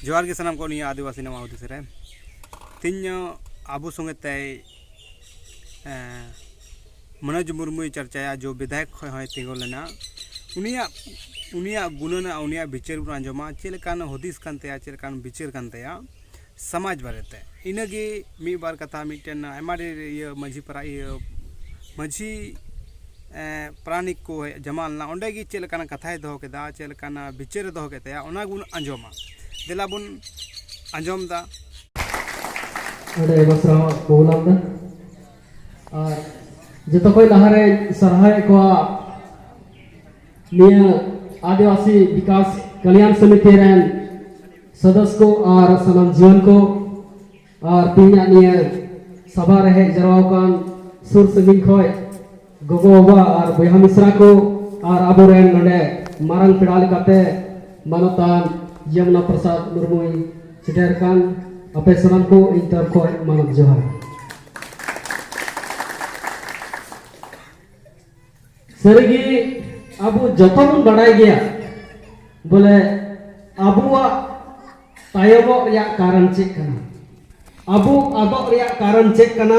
ᱡᱚᱦᱟᱨ ᱜᱮ ᱥᱟᱱᱟᱢ ᱠᱚ ᱱᱤᱭᱟᱹ ᱟᱹᱫᱤᱵᱟᱹᱥᱤ ᱱᱟᱣᱟ ᱦᱩᱫᱤᱥ ᱨᱮ ᱛᱮᱦᱮᱧ ᱟᱵᱚ ᱥᱚᱸᱜᱮ ᱛᱮ ᱢᱚᱱᱳᱡᱽ ᱢᱩᱨᱢᱩᱭ ᱪᱟᱨᱪᱟᱭᱟ ᱡᱚ ᱵᱤᱫᱷᱟᱭᱚᱠ ᱠᱷᱚᱱ ᱦᱚᱸᱭ ᱛᱤᱸᱜᱩ ᱞᱮᱱᱟ ᱩᱱᱤᱭᱟᱜ ᱩᱱᱤᱭᱟᱜ ᱜᱩᱱᱟᱹᱱ ᱩᱱᱤᱭᱟᱜ ᱵᱤᱪᱟᱹᱨ ᱵᱚᱱ ᱟᱸᱡᱚᱢᱟ ᱪᱮᱫ ᱞᱮᱠᱟᱱ ᱦᱩᱫᱤᱥ ᱠᱟᱱ ᱛᱟᱭᱟ ᱪᱮᱫ ᱞᱮᱠᱟᱱ ᱵᱤᱪᱟᱹᱨ ᱠᱟᱱ ᱛᱟᱭᱟ ᱥᱚᱢᱟᱡᱽ ᱵᱟᱨᱮᱛᱮ ᱤᱱᱟᱹᱜᱮ ᱢᱤᱫ ᱵᱟᱨ ᱠᱟᱛᱷᱟ ᱢᱤᱫᱴᱮᱱ ᱟᱭᱢᱟ ᱰᱷᱮᱨ ᱤᱭᱟᱹ ᱢᱟᱹᱡᱷᱤ ᱯᱟᱨᱟ ᱤᱭᱟᱹ ᱢᱟᱹᱡᱷᱤ ᱯᱟᱨᱟᱱᱤᱠ ᱠᱚ ᱦᱮᱡ ᱡᱚᱢᱟ ᱞᱮᱱᱟ ᱚᱸᱰᱮ ᱜᱮ ᱪᱮᱫ ᱞᱮᱠᱟᱱᱟᱜ ᱠᱟᱛᱷᱟᱭ ᱫᱚᱦᱚ ᱠᱮᱫᱟ ᱪᱮᱫ ᱞᱮᱠᱟᱱᱟᱜ ᱵᱤᱪᱟᱹᱨᱮ ᱫᱚᱦᱚ ᱠᱮᱫ ᱛᱟᱭᱟ ᱚᱱᱟ ᱜᱮᱵᱚᱱ ᱟᱸᱡᱚᱢᱟ ᱫᱮᱞᱟ ᱵᱚᱱ ᱟᱸᱡᱚᱢ ᱮᱫᱟ ᱟᱹᱰᱤ ᱟᱭᱢᱟ ᱥᱟᱨᱦᱟᱣ ᱠᱚᱵᱚᱱ ᱮᱢᱫᱟ ᱟᱨ ᱡᱚᱛᱚ ᱠᱷᱚᱱ ᱞᱟᱦᱟᱨᱮ ᱥᱟᱨᱦᱟᱣᱮᱫ ᱠᱚᱣᱟ ᱱᱤᱭᱟᱹ ᱟᱹᱫᱤᱵᱟᱹᱥᱤ ᱵᱤᱠᱟᱥ ᱠᱟᱞᱭᱟᱱ ᱥᱚᱢᱤᱛᱤ ᱨᱮᱱ ᱥᱚᱫᱚᱥ ᱠᱚ ᱟᱨ ᱥᱟᱱᱟᱢ ᱡᱤᱭᱚᱱ ᱠᱚ ᱟᱨ ᱛᱮᱦᱮᱧᱟᱜ ᱱᱤᱭᱟᱹ ᱥᱟᱵᱷᱟ ᱨᱮ ᱦᱮᱡ ᱡᱟᱣᱨᱟ ᱟᱠᱟᱱ ᱥᱩᱨ ᱥᱟᱺᱜᱤᱧ ᱠᱷᱚᱱ ᱜᱚᱜᱚ ᱵᱟᱵᱟ ᱟᱨ ᱵᱚᱭᱦᱟ ᱢᱤᱥᱨᱟ ᱠᱚ ᱟᱨ ᱟᱵᱚᱨᱮᱱ ᱱᱚᱰᱮ ᱢᱟᱨᱟᱝ ᱯᱮᱲᱟ ᱞᱮᱠᱟᱛᱮ ᱢᱟᱱᱚᱛᱟᱱ ᱡᱚᱢᱩᱱᱟ ᱯᱨᱚᱥᱟᱫ ᱢᱩᱨᱢᱩᱭ ᱥᱮᱴᱮᱨ ᱟᱠᱟᱱ ᱟᱯᱮ ᱥᱟᱱᱟᱢ ᱠᱚ ᱤᱧ ᱛᱚᱨᱚᱯ ᱠᱷᱚᱱ ᱢᱟᱱᱚᱛ ᱡᱚᱦᱟᱨ ᱥᱟᱹᱨᱤᱜᱮ ᱟᱵᱚ ᱡᱚᱛᱚ ᱵᱚᱱ ᱵᱟᱰᱟᱭ ᱜᱮᱭᱟ ᱵᱚᱞᱮ ᱟᱵᱚᱣᱟᱜ ᱛᱟᱭᱚᱢᱚᱜ ᱨᱮᱭᱟᱜ ᱠᱟᱨᱚᱱ ᱪᱮᱫ ᱠᱟᱱᱟ ᱟᱵᱚ ᱟᱫᱚᱜ ᱨᱮᱭᱟᱜ ᱠᱟᱨᱚᱱ ᱪᱮᱫ ᱠᱟᱱᱟ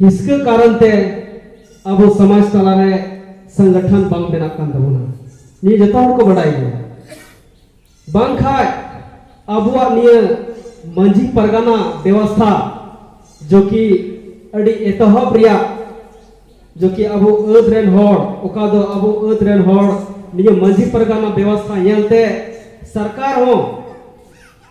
ᱦᱤᱥᱠᱟᱹ ᱠᱟᱨᱚᱱ ᱛᱮ ᱟᱵᱚ ᱥᱚᱢᱟᱡᱽ ᱛᱟᱞᱟᱨᱮ ᱥᱚᱝᱜᱚᱴᱷᱚᱱ ᱵᱟᱝ ᱵᱮᱱᱟᱜ ᱠᱟᱱ ᱛᱟᱵᱚᱱᱟ ᱱᱤᱭᱟᱹ ᱡᱚᱛᱚ ᱦᱚᱲ ᱠᱚ ᱵᱟᱰᱟᱭ ᱜᱮᱭᱟ ᱵᱟᱝᱠᱷᱟᱡ ᱟᱵᱚᱣᱟᱜ ᱱᱤᱭᱟᱹ ᱢᱟᱹᱡᱷᱤ ᱯᱟᱨᱜᱟᱱᱟ ᱵᱮᱵᱚᱥᱛᱷᱟ ᱡᱚ ᱠᱤ ᱟᱹᱰᱤ ᱮᱛᱚᱦᱚᱵ ᱨᱮᱭᱟᱜ ᱡᱚ ᱠᱤ ᱟᱵᱚ ᱟᱹᱫ ᱨᱮᱱ ᱦᱚᱲ ᱚᱠᱟ ᱫᱚ ᱟᱵᱚ ᱟᱹᱫ ᱨᱮᱱ ᱦᱚᱲ ᱱᱤᱭᱟᱹ ᱢᱟᱹᱡᱷᱤ ᱯᱟᱨᱜᱟᱱᱟ ᱵᱮᱵᱚᱥᱛᱷᱟ ᱧᱮᱞᱛᱮ ᱥᱚᱨᱠᱟᱨ ᱦᱚᱸ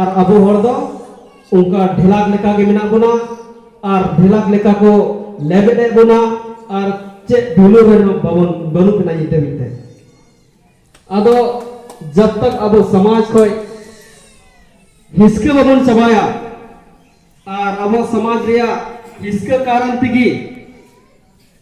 ᱟᱨ ᱟᱵᱚ ᱦᱚᱲ ᱫᱚ ᱚᱱᱠᱟ ᱰᱷᱮᱞᱟᱠ ᱞᱮᱠᱟ ᱜᱮ ᱢᱮᱱᱟᱜ ᱵᱚᱱᱟ ᱟᱨ ᱰᱷᱮᱞᱟᱠ ᱞᱮᱠᱟ ᱠᱚ ᱞᱮᱵᱮᱫ ᱮᱫ ᱵᱚᱱᱟ ᱟᱨ ᱪᱮᱫ ᱵᱷᱮᱞᱩ ᱨᱮ ᱵᱟᱵᱚᱱ ᱵᱟᱹᱱᱩᱜ ᱵᱚᱱᱟ ᱧᱤᱫᱟᱹ ᱢᱤᱫᱛᱮ ᱟᱫᱚ ᱡᱟᱵ ᱛᱟᱠ ᱟᱵᱚ ᱥᱚᱢᱟᱡᱽ ᱠᱷᱚᱡ ᱦᱤᱥᱠᱟᱹ ᱵᱟᱵᱚᱱ ᱪᱟᱵᱟᱭᱟ ᱟᱨ ᱟᱵᱚ ᱥᱚᱢᱟᱡᱽ ᱨᱮᱭᱟᱜ ᱦᱤᱥᱠᱟᱹ ᱠᱟᱨᱚᱱ ᱛᱮᱜᱮ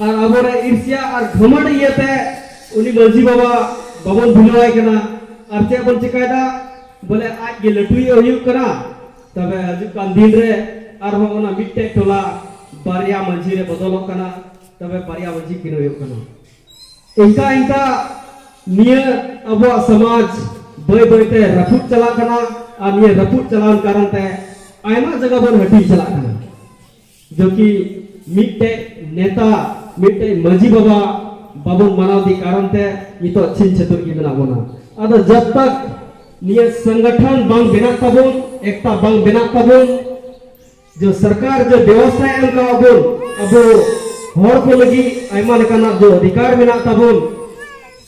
ᱟᱨ ᱟᱵᱚᱨᱮ ᱤᱨᱥᱤᱭᱟ ᱟᱨ ᱜᱷᱟᱢᱟᱰ ᱤᱭᱟᱹᱛᱮ ᱩᱱᱤ ᱢᱟᱹᱡᱷᱤ ᱵᱟᱵᱟ ᱵᱟᱵᱚᱱ ᱵᱷᱩᱞᱟᱹᱣᱟᱭ ᱠᱟᱱᱟ ᱟᱨ ᱪᱮᱫ ᱵᱚᱱ ᱪᱤᱠᱟᱭᱫᱟ ᱵᱚᱞᱮ ᱟᱡ ᱜᱮ ᱞᱟᱹᱴᱩᱭ ᱦᱩᱭᱩᱜ ᱠᱟᱱᱟ ᱛᱚᱵᱮ ᱦᱤᱡᱩᱜ ᱠᱟᱱ ᱫᱤᱱ ᱨᱮ ᱟᱨᱦᱚᱸ ᱚᱱᱟ ᱢᱤᱫᱴᱮᱡ ᱴᱚᱞᱟ ᱵᱟᱨᱭᱟ ᱢᱟᱹᱡᱷᱤ ᱨᱮ ᱵᱚᱫᱚᱞᱚᱜ ᱠᱟᱱᱟ ᱛᱚᱵᱮ ᱵᱟᱨᱭᱟ ᱢᱟᱹᱡᱷᱤ ᱠᱤᱱ ᱦᱩᱭᱩᱜ ᱠᱟᱱᱟ ᱤᱱᱠᱟ ᱤᱱᱠᱟ ᱱᱤᱭᱟᱹ ᱟᱵᱚᱣᱟᱜ ᱥᱚᱢᱟᱡᱽ ᱵᱟᱹᱭ ᱵᱟᱹᱭᱛᱮ ᱨᱟᱹᱯᱩᱫ ᱪᱟᱞᱟᱜ ᱠᱟᱱᱟ ᱟᱨ ᱱᱤᱭᱟᱹ ᱨᱟᱹᱯᱩᱫ ᱪᱟᱞᱟᱣ ᱠᱟᱨᱚᱱ ᱛᱮ ᱟᱭᱢᱟ ᱡᱟᱭᱜᱟ ᱵᱚᱱ ᱦᱟᱹᱴᱤᱧ ᱪᱟᱞᱟᱜ ᱠᱟᱱᱟ ᱡᱚᱠᱤ ᱢᱤᱫᱴᱮᱡ ᱱᱮᱛᱟ ᱢᱤᱫᱴᱮᱡ ᱢᱟᱹᱡᱷᱤ ᱵᱟᱵᱟ ᱵᱟᱵᱚᱱ ᱢᱟᱱᱟᱣ ᱫᱤ ᱠᱟᱨᱚᱱ ᱛᱮ ᱱᱤᱛᱚᱜ ᱪᱷᱤᱱ ᱪᱷᱟᱹᱛᱩᱨ ᱜᱮ ᱢᱮᱱᱟᱜ ᱵᱚᱱᱟ ᱟᱫᱚ ᱡᱚᱵ ᱛᱟᱠ ᱱᱤᱭᱟᱹ ᱥᱚᱝᱜᱚᱴᱷᱚᱱ ᱵᱟᱝ ᱵᱮᱱᱟᱜ ᱛᱟᱵᱚᱱ ᱮᱠᱛᱟ ᱵᱟᱝ ᱵᱮᱱᱟᱜ ᱛᱟᱵᱚᱱ ᱡᱚ ᱥᱚᱨᱠᱟᱨ ᱡᱚ ᱵᱮᱵᱚᱥᱛᱷᱟ ᱮᱢ ᱠᱟᱜ ᱵᱚᱱ ᱟᱵᱚ ᱦᱚᱲ ᱠᱚ ᱞᱟᱹᱜᱤᱫ ᱟᱭᱢᱟ ᱞᱮᱠᱟᱱᱟᱜ ᱡᱚ ᱚᱫᱷᱤᱠᱟᱨ ᱢᱮᱱᱟᱜ ᱛᱟᱵᱚᱱ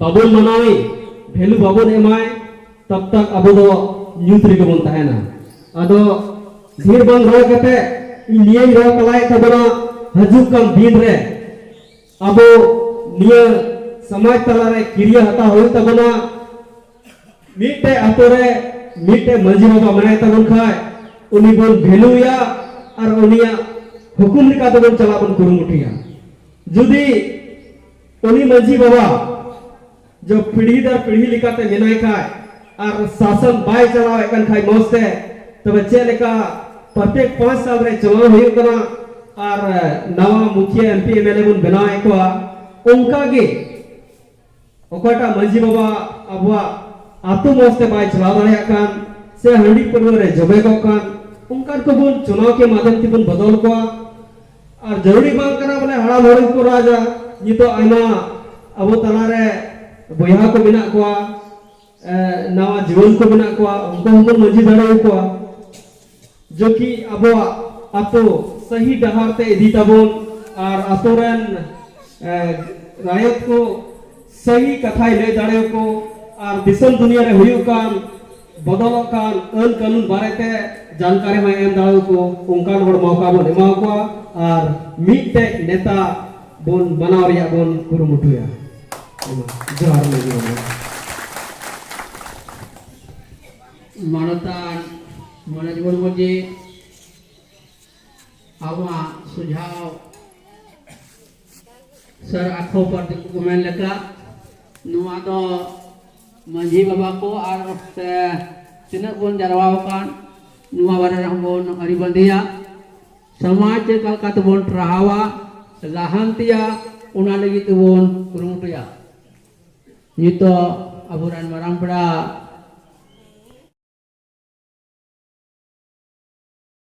ᱵᱟᱵᱚᱱ ᱢᱟᱱᱟᱣᱮ ᱵᱷᱮᱞᱩ ᱵᱟᱵᱚᱱ ᱮᱢᱟᱭ ᱛᱚᱵ ᱛᱚᱠ ᱟᱵᱚ ᱫᱚ ᱧᱩᱛ ᱨᱮᱜᱮ ᱵᱚᱱ ᱛᱟᱦᱮᱱᱟ ᱟᱫᱚ ᱰᱷᱮᱨ ᱵᱟᱝ ᱨᱚᱲ ᱠᱟᱛᱮ ᱤᱧ ᱱᱤᱭᱟᱹᱧ ᱨᱚᱲ ᱛᱟᱞᱟᱭᱮᱫ ᱛᱟᱵᱚᱱᱟ ᱦᱤᱡᱩᱜ ᱠᱟᱱ ᱫᱤᱱ ᱨᱮ ᱟᱵᱚ ᱱᱤᱭᱟᱹ ᱥᱚᱢᱟᱡᱽ ᱛᱟᱞᱟᱨᱮ ᱠᱤᱨᱤᱭᱟᱹ ᱦᱟᱛᱟᱣ ᱦᱩᱭᱩᱜ ᱛᱟᱵᱚᱱᱟ ᱢᱤᱫᱴᱮᱡ ᱟᱛᱳ ᱨᱮ ᱢᱤᱫᱴᱮᱡ ᱢᱟᱺᱡᱷᱤ ᱵᱟᱵᱟ ᱢᱮᱱᱟᱭ ᱛᱟᱵᱚᱱ ᱠᱷᱟᱡ ᱩᱱᱤ ᱵᱚᱱ ᱵᱷᱮᱞᱩᱭᱟ ᱟᱨ ᱩᱱᱤᱭᱟᱜ ᱦᱩᱠᱩᱢ ᱞᱮᱠᱟ ᱛᱮᱵᱚᱱ ᱪᱟᱞᱟᱜ ᱵᱚᱱ ᱠᱩᱨᱩᱢᱩᱴᱩᱭᱟ ᱡᱩᱫᱤ ᱩᱱᱤ ᱢᱟᱹᱡᱷᱤ ᱵᱟᱵᱟ ᱡᱚ ᱯᱤᱲᱦᱤ ᱫᱟᱨ ᱯᱤᱲᱦᱤ ᱞᱮᱠᱟᱛᱮ ᱢᱮᱱᱟᱭ ᱠᱷᱟᱭ ᱟᱨ ᱥᱟᱥᱚᱱ ᱵᱟᱭ ᱪᱟᱞᱟᱣᱮᱫ ᱠᱟᱱ ᱠᱷᱟᱭ ᱢᱚᱡᱽ ᱛᱮ ᱛᱚᱵᱮ ᱪᱮᱫ ᱞᱮᱠᱟ ᱯᱨᱚᱛᱮᱠ ᱯᱟᱸᱪ ᱥᱟᱞ ᱨᱮ ᱪᱩᱱᱟᱣ ᱦᱩᱭᱩᱜ ᱠᱟᱱᱟ ᱟᱨ ᱱᱟᱣᱟ ᱢᱩᱠᱷᱤᱭᱟᱹ M P M L A ᱵᱚᱱ ᱵᱮᱱᱟᱣᱮᱫ ᱠᱚᱣᱟ ᱚᱱᱠᱟ ᱜᱮ ᱚᱠᱟᱴᱟᱜ ᱢᱟᱹᱡᱷᱤ ᱵᱟᱵᱟ ᱟᱵᱚᱣᱟᱜ ᱟᱛᱳ ᱢᱚᱡᱽ ᱛᱮ ᱵᱟᱭ ᱪᱟᱞᱟᱣ ᱫᱟᱲᱮᱭᱟᱜ ᱠᱟᱱ ᱥᱮ ᱦᱟᱺᱰᱤ ᱯᱟᱹᱨᱣᱟᱹ ᱨᱮ ᱡᱚᱵᱮ ᱠᱚᱜ ᱠᱟᱱ ᱚᱱᱠᱟᱱ ᱠᱚᱵᱚᱱ ᱪᱩᱱᱟᱣ ᱠᱮ ᱢᱟᱫᱷᱚᱢ ᱛᱮᱵᱚᱱ ᱵᱚᱫᱚᱞ ᱠᱚᱣᱟ ᱟᱨ ᱡᱟᱹᱨᱩᱲᱤ ᱵᱟᱝ ᱠᱟᱱᱟ ᱵᱚᱞᱮ ᱦᱟᱲᱟᱢ ᱦᱚᱲ ᱜᱮᱠᱚ ᱨᱟᱡᱟ ᱱᱤᱛᱚᱜ ᱟᱭᱢᱟ ᱟᱵᱚ ᱛᱟᱞᱟᱨᱮ ᱵᱚᱭᱦᱟ ᱠᱚ ᱢᱮᱱᱟᱜ ᱠᱚᱣᱟ ᱱᱟᱣᱟ ᱡᱩᱣᱟᱹᱱ ᱠᱚ ᱢᱮᱱᱟᱜ ᱠᱚᱣᱟ ᱩᱱᱠᱩ ᱦᱚᱸᱵᱚᱱ ᱢᱟᱹᱡᱷᱤ ᱫᱟᱲᱮᱭᱟᱠᱚᱣᱟ ᱡᱮ ᱠᱤ ᱟᱵᱚᱣᱟᱜ ᱟᱛᱳ ᱥᱟᱹᱦᱤ ᱰᱟᱦᱟᱨ ᱛᱮ ᱤᱫᱤ ᱛᱟᱵᱚᱱ ᱟᱨ ᱟᱛᱳ ᱨᱮᱱ ᱨᱟᱭᱚᱛ ᱠᱚ ᱥᱟᱹᱦᱤ ᱠᱟᱛᱷᱟᱭ ᱞᱟᱹᱭ ᱫᱟᱲᱮᱭᱟᱠᱚ ᱟᱨ ᱫᱤᱥᱚᱢ ᱫᱩᱱᱤᱭᱟᱹ ᱨᱮ ᱦᱩᱭᱩᱜ ᱠᱟᱱ ᱵᱚᱫᱚᱞᱚᱜ ᱠᱟᱱ ᱟᱹᱱ ᱠᱟᱹᱱᱩᱱ ᱵᱟᱨᱮᱛᱮ ᱡᱟᱱᱠᱟᱨᱤ ᱦᱚᱸᱭ ᱮᱢ ᱫᱟᱲᱮᱭᱟᱠᱚ ᱚᱱᱠᱟᱱ ᱦᱚᱲ ᱢᱚᱣᱠᱟ ᱵᱚᱱ ᱮᱢᱟ ᱠᱚᱣᱟ ᱟᱨ ᱢᱤᱫᱴᱮᱡ ᱱᱮᱛᱟ ᱵᱚᱱ ᱵᱟᱱᱟᱣ ᱨᱮᱭᱟᱜ ᱵᱚᱱ ᱠᱩᱨᱩᱢᱩᱴᱩᱭᱟ ᱡᱚᱦᱟᱨ ᱢᱟᱹᱡᱷᱤ ᱵᱟᱵᱟ ᱢᱟᱱᱚᱛᱟᱱ ᱢᱚᱱᱳᱡᱽ ᱢᱩᱨᱢᱩ ᱡᱤ ᱟᱵᱚᱣᱟᱜ ᱥᱩᱡᱷᱟᱣ ᱥᱟᱨ ᱟᱠᱷᱚ ᱯᱟᱨ ᱫᱤᱠᱩ ᱠᱚ ᱢᱮᱱ ᱞᱮᱠᱟ ᱱᱚᱣᱟ ᱫᱚ ᱢᱟᱺᱡᱷᱤ ᱵᱟᱵᱟ ᱠᱚ ᱟᱨ ᱥᱮ ᱛᱤᱱᱟᱹᱜ ᱵᱚᱱ ᱡᱟᱨᱣᱟ ᱟᱠᱟᱱ ᱱᱚᱣᱟ ᱵᱟᱨᱮ ᱨᱮᱦᱚᱸ ᱵᱚᱱ ᱟᱹᱨᱤ ᱵᱟᱸᱫᱮᱭᱟ ᱥᱚᱢᱟᱡᱽ ᱪᱮᱫ ᱞᱮᱠᱟ ᱛᱮᱵᱚᱱ ᱴᱨᱟᱦᱟᱣᱟ ᱞᱟᱦᱟᱱᱛᱤᱭᱟ ᱚᱱᱟ ᱞᱟᱹᱜᱤᱫ ᱛᱮᱵᱚᱱ ᱠᱩᱨᱩᱢᱩᱴᱩᱭᱟ ᱱᱤᱛᱚᱜ ᱟᱵᱚᱨᱮᱱ ᱢᱟᱨᱟᱝ ᱯᱮᱲᱟ